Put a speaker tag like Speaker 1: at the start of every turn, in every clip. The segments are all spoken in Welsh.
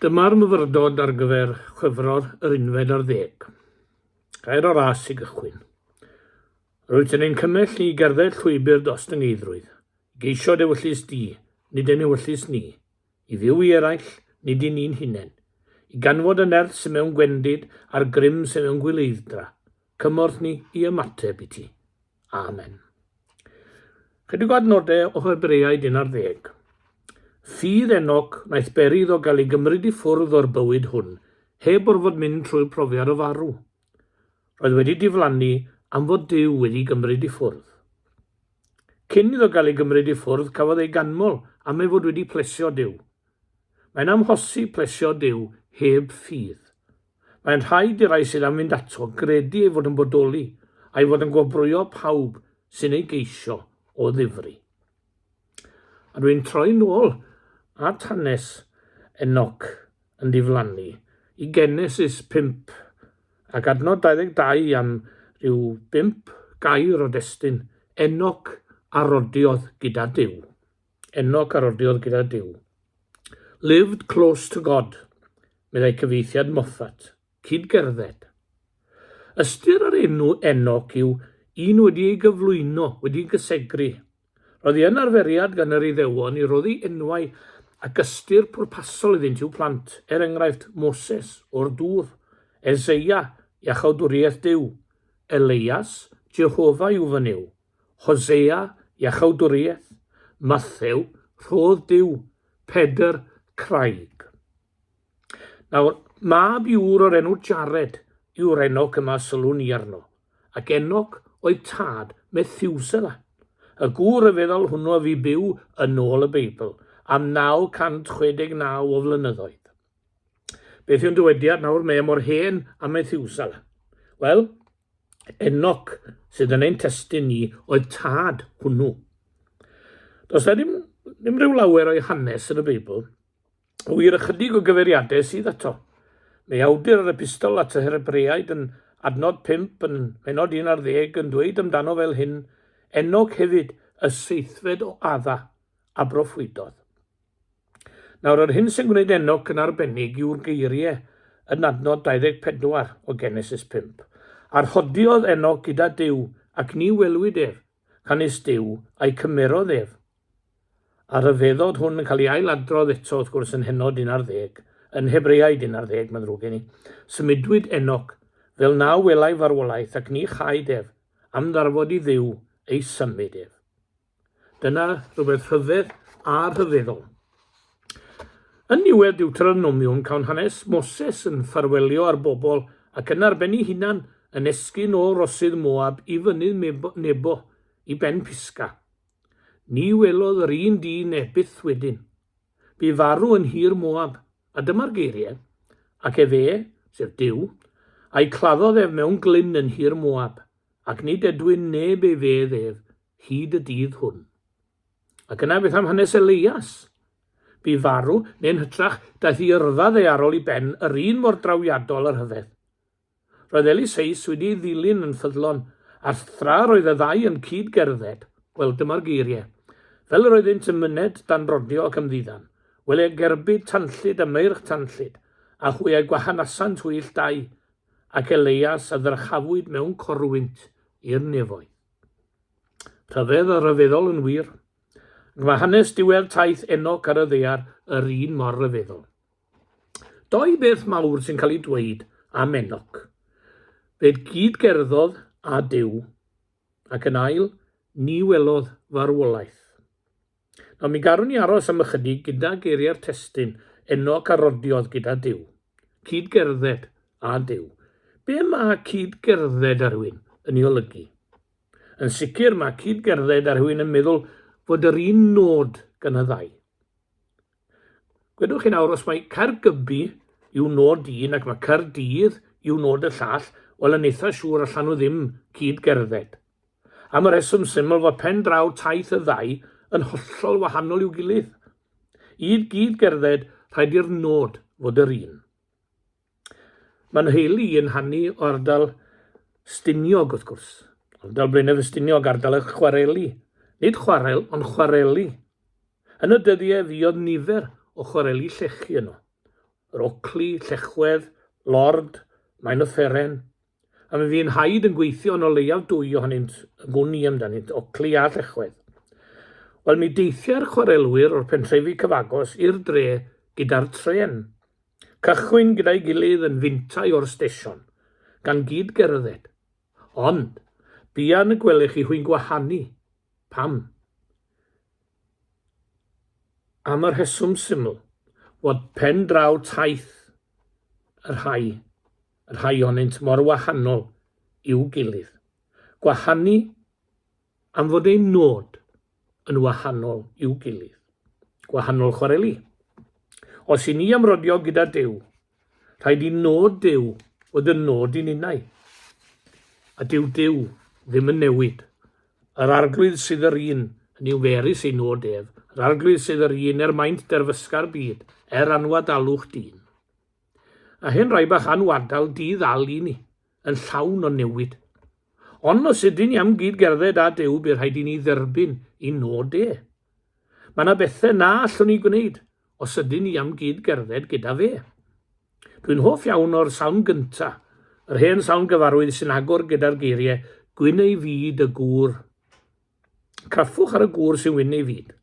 Speaker 1: Dyma'r myfyrdod ar gyfer chwefror yr unfed ar ddeg. Gair o ras i gychwyn. Rwyt yn ein cymell i gerdded llwybr dros dy ngeidrwydd, i geisio dy wyllys di, nid yn ewyllys ni, i fyw i eraill, nid i ni'n hunain, i ganfod y nerth sy'n mewn gwendid a'r grym sy'n mewn gwileiddra, cymorth ni i ymateb i ti. Amen. Chydig o adnodau o Hebreaid 11. Ffydd Enoc wnaeth beri iddo gael ei gymryd i ffwrdd o'r bywyd hwn, heb orfod mynd trwy profiad o farw. Roedd wedi diflannu am fod Dyw wedi gymryd i ffwrdd. Cyn iddo gael ei gymryd i ffwrdd, cafodd ei ganmol am ei fod wedi plesio Dyw. Mae'n amhosib plesio Dyw heb ffydd. Mae'n rhaid i'r rhai sydd am fynd ato gredu ei fod yn bodoli, a'i fod yn gwobrwyo pawb sy'n ei geisio o ddifri. A dwi'n troi nôl at hanes Enoc yn diflannu i Genesis 5 ac adnod 22 am ryw bump gair o destun Enoc a rodiodd gyda Duw. Enoc a rodiodd gyda Duw. Lived close to God, meddai cyfieithiad Moffat, cyd-gerdded. Ystyr yr enw Enoc yw un wedi ei gyflwyno, wedi gysegru. Roedd hi yn arferiad gan yr Iddewon i roddi enwau ac ystyr pwrpasol iddynt i'w plant, er enghraifft Moses, o'r dŵr, Eseia, iachawdwriaeth Duw, Elias, Jehofa yw fy Nuw. Hosea, Iachawdwriaeth, Mathew, Rhodd Duw, Pedr, Craig. Nawr, mab i ŵr o'r enw Jared yw'r Enoc yma sylwn ni arno, ac Enoc oedd tad Methiwsela, y gŵr ryfeddol hwnnw a fu byw yn ôl y Beibl am 969 o flynyddoedd. Beth yw'n dywediad nawr, mae e mor hen a Methiwsela? Wel, Enoc sydd yn ein testun ni oedd tad hwnnw. Does na ddim, ddim rhyw lawer o'i hanes yn y Beibl, o wir ychydig o gyfeiriadau sydd ato. Mae awdur yr epistol at y Hebreaid yn adnod 5 yn menod 1 ar ddeg yn dweud amdano fel hyn, Enoc hefyd, y seithfed o adda, a broffwydodd. Nawr, yr hyn sy'n gwneud Enoc yn arbennig yw'r geiriau yn adnod 24 o Genesis 5. A rhodiodd Enoc gyda Duw, ac ni welwyd ef, canys Duw a'i cymerodd ef. A rhyfeddod hwn yn cael ei ail-adrodd eto, wrth gwrs, yn Heno 11, yn Hebreaid 11, mae'n ddrwg gen i. Symudwyd Enoc, fel na welai farwolaeth, ac ni chaed ef, am ddarfod i Dduw ei symud ef. Dyna rhywbeth rhyfedd a rhyfeddol. Yn niwedd Deuteronomiwm, cawn hanes Moses yn ffarwelio â'r bobl ac yn arbenni hunan yn esgyn o rosydd Moab i fynydd Nebo, i ben Pisga. Ni welodd yr un dyn e byth wedyn. Bu farw yn hir Moab, a dyma'r geiriau, ac efe, sef Dyw, a'i claddodd ef mewn glyn yn hir Moab, ac nid edwyn neb ei fedd ef, hyd y dydd hwn. Ac yna beth am hanes Elias? Bu farw, neu'n hytrach, daeth i yrfa ddearol i ben yr un mor drawiadol a rhyfedd. Roedd Eliseus wedi ei ddilyn yn ffyddlon, a thra roedd y ddau yn cyd gerdded, wel dyma'r geiriau, fel yr oeddynt yn myned dan brodio ac ymddiddan, wel e gerbyd tanllyd a meirch tanllyd, a hwy a gwahanasant hwyll dau, ac Elias a ddyrchafwyd mewn corwynt i'r nefoedd. Rhyfedd a rhyfeddol yn wir. Ac mae hanes diwedd taith Enoc ar y ddaear yr un mor ryfeddol. Doi beth mawr sy'n cael ei dweud am Enoc. Fe gyd-gerddodd â Duw, ac yn ail, ni welodd farwolaeth. Nawr mi garwn ni aros am ychydig gyda geiriau'r testyn, Enoc a rodiodd gyda Duw. Cyd-gerdded a Duw. Be mae cyd-gerdded â rhywun yn ei olygu? Yn sicr mae cyd-gerdded â rhywun yn meddwl fod yr un nod gan y ddau. Gwedwch chi nawr, os mae Caergybi yw nod un ac mae Caerdydd yw nod y llall, wel yn eitha siŵr allan nhw ddim cyd gerdded. Am y rheswm syml fod pen draw taith y ddau yn hollol wahanol i'w gilydd. Id gyd gerdded, rhaid i'r nod fod yr un. Mae nheulu i yn hanu o ardal Stiniog, wrth gwrs. Ardal Blaenau Ffestiniog, ardal y chwareli. Nid chwarel, ond chwareli. Yn y dyddiau fuodd nifer o chwareli llechi yno. Yr Ocli, Llechwedd, Lord, Maen y Fferen, a mi fu'n haid yn gweithio yn o leiaf dwy ohonynt yn gwn i amdanynt, Ockley a Llechwedd. Wel, mi deithiai'r chwarelwyr o'r pentrefi cyfagos i'r dre gyda'r trên. Cychwyn gyda'i gilydd yn fintai o'r stesion, gan gyd gerdded. Ond, buan y gwelech chi hwy'n gwahanu. Pam? Am y rheswm syml, fod pen draw taith y rhai rhai ohonynt mor wahanol i'w gilydd. Gwahanu am fod ein nod yn wahanol i'w gilydd. Gwahanol chwareli. Os i ni amrodio gyda Dyw, rhaid i nod Dyw fod yn nod i ninnau. A dyw Dyw ddim yn newid. Yr arglwydd sydd yr un, yn yw ferus ei nod ef, yr arglwydd sydd yr un er maint derfysga'r byd, er anwadalwch dyn. A hen rai bach â'n wadal di-ddal i ni, yn llawn o newid. Ond os ydyn ni am gyd-gerdded â Duw bu rhaid i ni dderbyn i nod e. Mae yna bethau na allwn ni gwneud os ydyn ni am gyd-gerdded gyda fe. Dwi'n hoff iawn o'r salm gynta, yr hen salm gyfarwydd sy'n agor gyda'r geiriau Gwyn ei fyd y gŵr Craffwch ar y gŵr sy'n wyn ei fyd.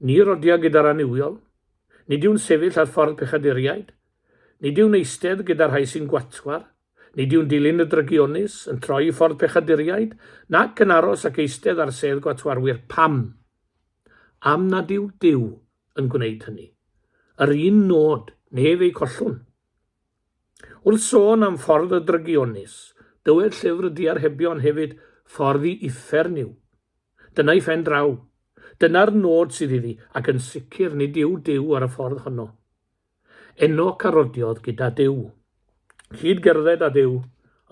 Speaker 1: Ni rodia gyda'r annuwiol. Nid yw'n sefyll ar ffordd pechaduriaid. Nid yw'n eistedd gyda'r rhai sy'n gwatwar. Nid yw'n dilyn y drygionus, yn troi i ffordd pechaduriaid, nac yn aros ac eistedd ar sedd gwatwarwyr. Pam? Am nad yw Duw yn gwneud hynny. Yr un nod, nef ei collwn. Wrth sôn am ffordd y drygionus, dywed llyfr Diarhebion hefyd, Ffordd i uffern yw. Dyna'i phen draw. Dyna'r nod sydd iddi, ac yn sicr nid yw Duw ar y ffordd honno. Enoc a rodiodd gyda Duw. Cyd gerdded â Duw,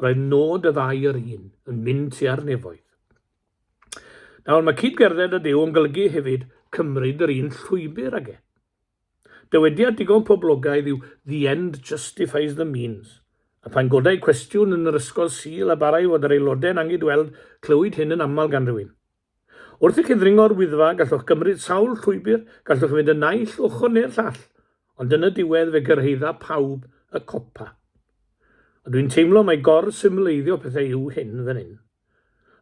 Speaker 1: roedd nod y ddau yr un, yn mynd tua'r nefoedd. Nawr, mae cyd gerdded â Duw yn golygu hefyd cymryd yr un llwybr ag e. Dywediad digon poblogaidd yw The end justifies the means, a phan godai cwestiwn yn yr Ysgol Sul a barai fod yr aelodau yn anghydweld, clywid hyn yn aml gan rywun. Wrth i chi ddringo'r Wyddfa, gallwch gymryd sawl llwybr, gallwch fynd y naill ochr neu'r llall, ond yn y diwedd fe gyrhaedda pawb y copa. Ond dwi'n teimlo mai gor-symleiddio pethau yw hyn fan hyn.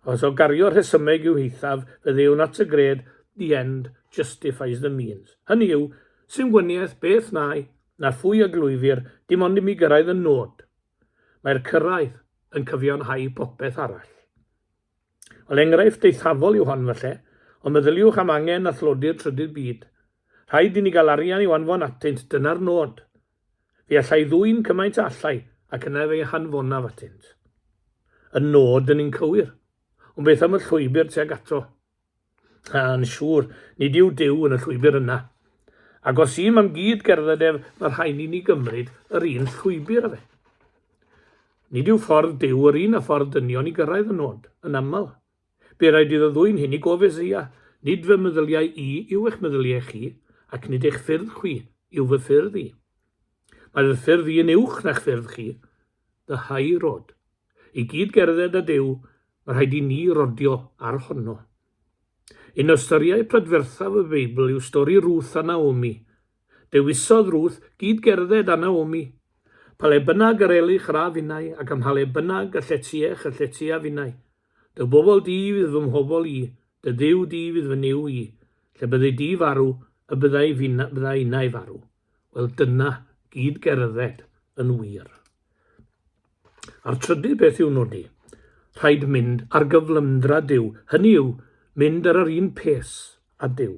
Speaker 1: Os o gario rhesymeg yw hithaf, fe ddewn at y gred the end justifies the means. Hynny yw, sy'n wyniaeth beth nai, na phwy a glwyfir, dim ond i mi gyrraedd y nod. Mae'r cyrraedd yn cyfiawnhau popeth arall. Wel, enghraifft eithafol yw hon falle, ond meddyliwch am angen a thlodi'r trydydd byd. Rhaid i ni gael arian i'w anfon atynt, dyna'r nod. Fe allai ddwyn cymaint a allai, ac yna ef ei hanfonaf atynt. Y nod dyn ni'n cywir, ond beth am y llwybr tuag ato? A, yn siŵr, nid yw Duw yn y llwybr yna. Ac os ym am gyd gerdded ef, mae rhaid ni ni gymryd yr un llwybr â fe. Nid yw ffordd Duw yr un a ffordd dynion i gyrraedd y nod, yn aml. Be raid iddo ddwyn hyn i gof Eseia, Nid fy meddyliau i yw eich meddyliau chi, ac nid eich ffyrdd chwi yw fy ffyrdd i. Mae fy ffyrdd i yn uwch na'ch ffyrdd chi. Fy hau rod. I gyd gerdded â Duw, mae rhaid i ni rodio ar honno. Un o storïau prydferthaf y Beibl yw stori Ruth a Naomi, Dewisodd Ruth gyd gerdded â Naomi. Pa le bynnag yr elich ra finnau, ac ym mha le bynnag y lletiech y lletia finnau. Dy bobl di fydd fy mhobl i, dy Dduw di fydd fy Nuw i. Lle byddi di farw, y byddai finna, bydda innau farw. Wel, dyna gyd gerdded yn wir. A'r trydydd beth i'w nodi, rhaid mynd ar gyflymdra Duw, hynny yw, mynd ar yr un pes a Duw.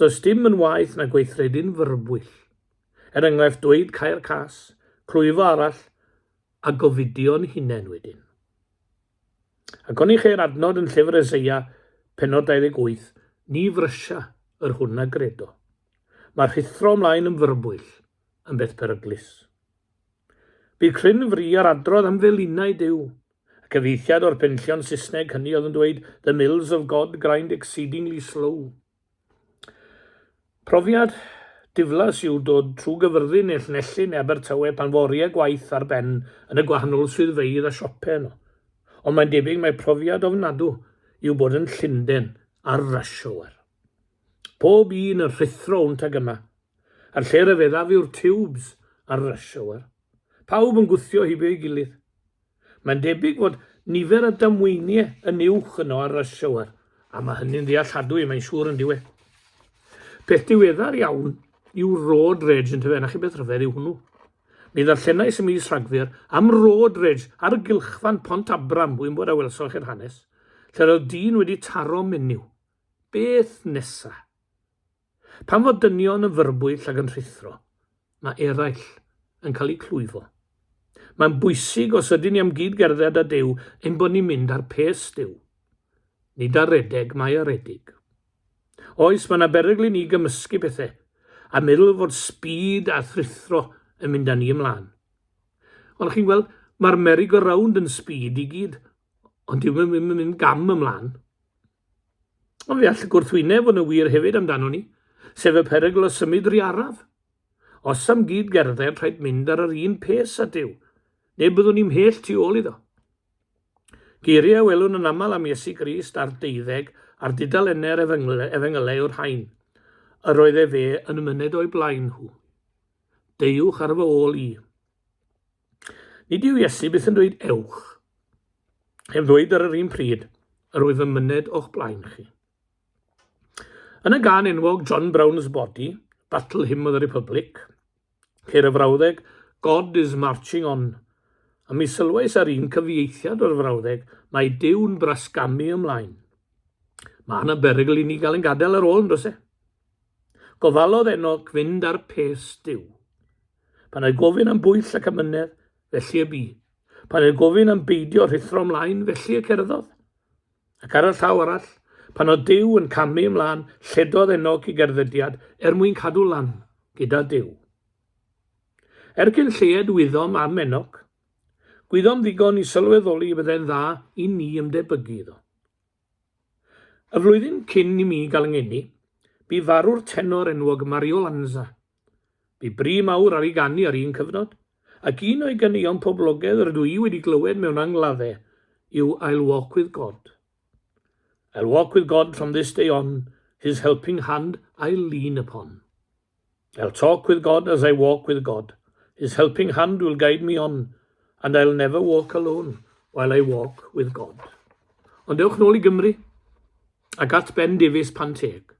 Speaker 1: Does dim yn waeth na gweithredu'n fyrbwyll. Er enghraifft dweud cair cas, clwyfo arall a gofidio'n hunain wedyn. Ac oni cheir adnod yn llyfr Eseia, penod 28, ni frysia yr hwn a gredo. Mae rhuthro ymlaen yn fyrbwyll yn beth beryglus. Bu cryn fri ar adrodd am felinau Duw, Y cyfeithiad o'r penllion Saesneg hynny oedd yn dweud The mills of God grind exceedingly slow. Profiad diflas yw dod trwy gyfyrddin neu Llanelli neu Abertawe pan fo oriau gwaith ar ben yn y gwahanol swyddfeydd a siopau yno. Ond mae'n debyg mae profiad ofnadw yw bod yn Llynden ar rush hour. Pob un yn rhuthro wnt ag yma. A'r lle ryfeddaf yw'r tiwbs ar rush hour. Pawb yn gwthio hibo ei gilydd. Mae'n debyg fod nifer y damweiniau yn uwch yno ar Rush Hour, a mae hynny'n ddealladwy, mae'n siŵr yn diwe. Peth diweddar iawn yw Road Rage yn tyfe, na chi beth rhyfedd yw hwnnw. Mi ddarllenais y mis Rhagfyr am Road Rage ar gylchfan Pont Abram, wy'n bod a welsoch chi'r hanes, lle roedd dyn wedi taro menyw. Beth nesa? Pan fo dynion yn fyrbwyll ac yn rhuthro, mae eraill yn cael eu clwyfo. Mae'n bwysig os ydyn ni am gyd gerdded â Duw ein bod ni'n mynd ar pes Duw. Nid ar redeg mae aredig. Oes, mae yna berygl i ni gymysgu pethau a meddwl fod sbîd a thruthro yn mynd â ni ymlaen. Ond chi'n gweld, mae'r meri go rownd yn sbîd i gyd, ond dyw ddim yn mynd gam ymlaen. Ond fe all y gwrthwyneb fod yn wir hefyd amdano ni, sef y perygl o symud ry araf. Os am gyd gerdded, rhaid mynd ar yr un pes a Duw. Neu byddwn ni'n mhell tu ôl iddo. Geiriau a welwn yn aml am Iesu Grist a'r deuddeg a'r dudalennau'r efengylau yw'r rhain. Yr oedd e fe yn myned o'i blaen nhw. Deuwch ar fy ôl i. Nid yw Iesu byth yn dweud ewch, heb ddweud ar yr un pryd, yr wyf yn myned o'ch blaen chi. Yn y gan enwog John Brown's Body, Battle Hymn of the Republic, ceir y frawddeg God is marching on, a mi sylwais ar un cyfieithiad o'r frawddeg mae Dyw'n brasgamu ymlaen. Mae yna berygl i ni gael yn gadael ar ôl yn dros e. Gofalodd ennog fynd ar pes Dyw. Pan ei gofyn am bwyll ac amynedd, felly y bu. Pan ei gofyn am beidio rhithro ymlaen, felly y cerddodd. Ac ar y llaw arall, pan oedd Dyw yn camu ymlaen, lledodd Enog i gerddediad er mwyn cadw lan gyda Dyw. Er cyn lleied wyddom am Enog. Gwyddom ddigon i sylweddoli y byddai'n dda i ni ymdebygu iddo. Y flwyddyn cyn i mi gael yngeni, bu farw'r tenor enwog Mario Lanza, Bu bri mawr ar ei ganu ar un cyfnod, ac un o'i ganeuon poblogedd rydw i wedi glywed mewn angladdau yw I'll walk with God. I'll walk with God from this day on, His helping hand I'll lean upon. I'll talk with God as I walk with God, His helping hand will guide me on, and I'll never walk alone while I walk with God. Ond dewch nôl i Gymru ac at Ben Davies pan teg.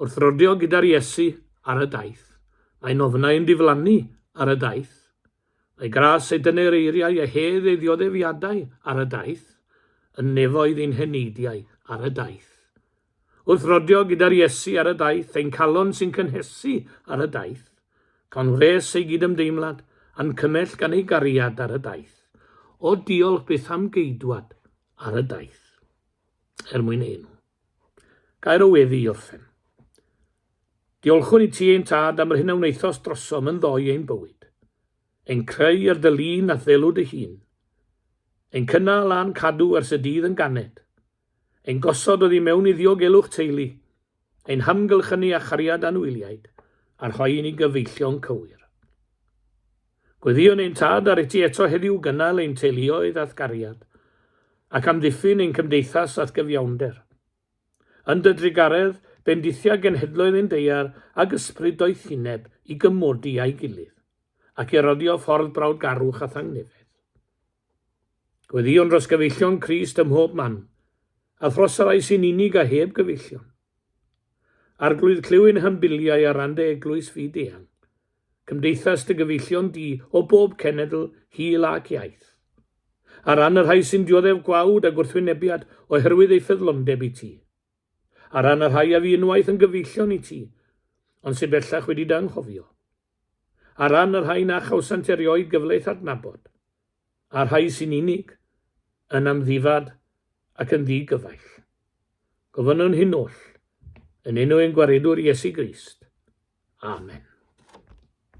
Speaker 1: Wrth roddio gyda'r Iesu ar y daith, mae'n ofnau yn diflannu ar y daith. Mae gras ei dyner eiriau a hedd ei ddioddefiadau ar y daith, yn nefoedd i'n heneidiau ar y daith. Wrth roddio gyda'r Iesu ar y daith, ein calon sy'n cynhesu ar y daith, cawn wres ei gydymdeimlad a'n cymell gan ei gariad ar y daith. O diolch byth am geidwad ar y daith. Er mwyn enw. Gair o weddi i orffen. Diolchwn i ti ein tad am yr hyn a wnaethos drosom yn ddoe ein bywyd. Ein creu ar dy lun a thelw dy hun. Ein cynnal a'n cadw ers y dydd yn ganed. Ein gosod o ddi mewn i ddiogelwch teulu. Ein hamgylchynu â chariad anwyliaid a rhoi i ni gyfeillion cywir. Gweddïwn ein Tad ar iti eto heddiw gynnal ein teuluoedd a'th gariad, ac amddiffyn ein cymdeithas a'th gyfiawnder. Yn dy drugaredd, bendithia genhedloedd ein deiar ag yspryd doethineb i gymodi â'i gilydd, ac i roddio ffordd brawdgarwch a thangnefedd. Gweddïwn dros gyfeillion Crist ym mhob man, a thros y rhai sy'n unig a heb gyfeillion. Arglwydd clyw ein hymbiliau ar ran dy eglwys fyd-eang, Cymdeithas dy gyfeillion di o bob cenedl, hil ac iaith. Ar ran y rhai sy'n dioddef gwawd a gwrthwynebiad oherwydd eu ffyddlondeb i ti. Ar ran y rhai a fu unwaith yn gyfeillion i ti, ond sydd bellach wedi dy anghofio. Ar ran y rhai na chawsant erioed gyfle i'th adnabod. a'r rhai sy'n unig, yn amddifad ac yn ddi-gyfaill. Gofynnwn hyn oll, yn enw ein Gwaredwr Iesu Grist. Amen.